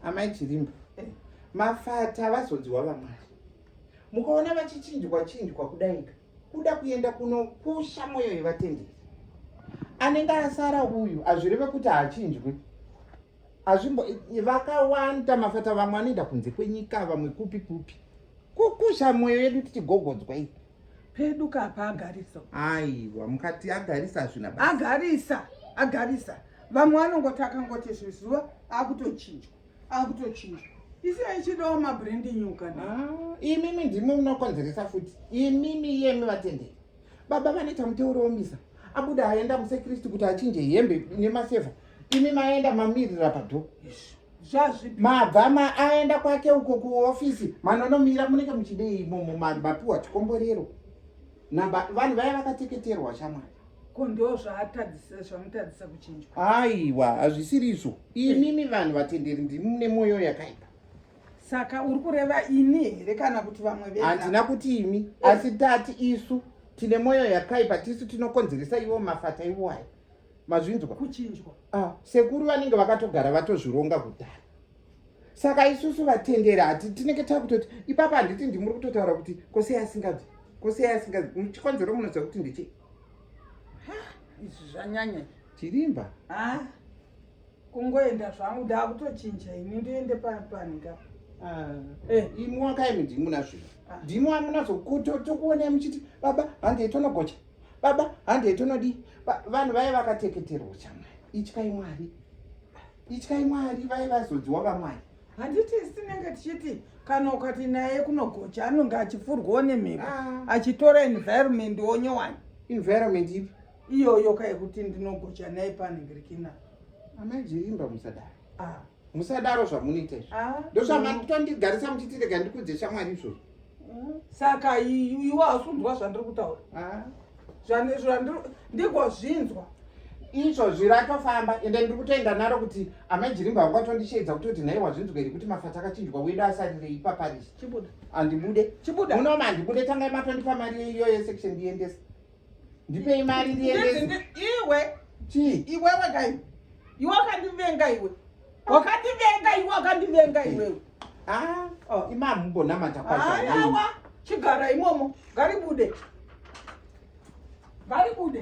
amai chirimba eh, mafata vazodziwa vamwari mukaona vachichinjwa chinjwa kudaika kuda kuenda kunokusha mwoyo yevatenderi anenge asara uyu hazvireve kuti haachinjwi hazvimbo vakawanda mafata vamwe anoenda kunze kwenyika vamwe kupi kupi kukusha mwoyo yedu tichigogodzwa ii pedu kapa agarisa aiwa mukati agarisa hazvina basa agarisa agarisa vamwe vanongoti akangoti zvizuva akutochinjwa akutochinjwa isina ichidawo mabrendi nyuka ah, imimi ndimi munokonzeresa futi imimi yemi vatenderi baba vanoita muteuro womisa abuda aenda musekristu kuti achinje hembe nemaseva imi maenda mamirira padhoo izvi mabva ma aenda kwake uko kuhofisi manonomira munenge muchidei imomo mapiwa chikomborero namba vanhu vaya vakateketerwa shamwari ko ndo zvaatadzisa zvamutadzisa kuchinjwa aiwa hazvisiri izvo imimi vanhu vatenderi ndimi mune mwoyo yakaipa saka uri kureva ini here kana kuti vamwe ve handina kuti imi eh. asi tati isu tine mwoyo yakaipa tisu tinokonzeresa ivo mafata ivo ayo mazvinzwa kuchinjwa ah, sekuru vanenge vakatogara vatozvironga kudhara saka isusu vatendera hati tinenge takutoti ipapa handiti ndimuri kutotaura kuti kosei asingabvi kosei asingabvi muchikonzero munoziva kuti ndichii izvi zvanyanya chirimba ah, kungoenda zvangu ndakutochinja ini ndoende paninga ah, eh. imi wakaimi ndimuna zvino ah. ndimi wamunazokutokuonai muchiti baba hange itonogocha baba handei tonodii vanhu vaye vakateketerwa chamwari ityai mwari ityai mwari vaye vazodziwa vamwari handiti sinenge tichiti kana ukati naye kunogocha anonge achifurwawo nemhepo ah. achitora environment wonyowani environment ipi iyoyo kayekuti ndinogocha naye panenge rikina amai jirimba musadaro ah. musadaro zvamunoita izvo ah, ndozvamatotondigarisa muchiti rega ndikudze shamwari izvozvo mm. saka iwe hausunzwa zvandiri kutaura ah. ndigozvinzwa izvozvi ratofamba ende ndiri kutoenda naro kuti amajirimba vangu atondisheedza kuti kuti nhaiwa zvinzwa iri kuti mafata akachinjwa wedu asarire ipaparisi andibude unooma andibude tangai matondipa mari iyoyo section ndiendesa ndipei mari ndiendese iwe chii iwewe kai iwe wakandivenga iwe wakandivenga iwe wakandivenga iwewe ah, oh, imami mbonamata kwaaawa chigara imomo ngaribude ngaribude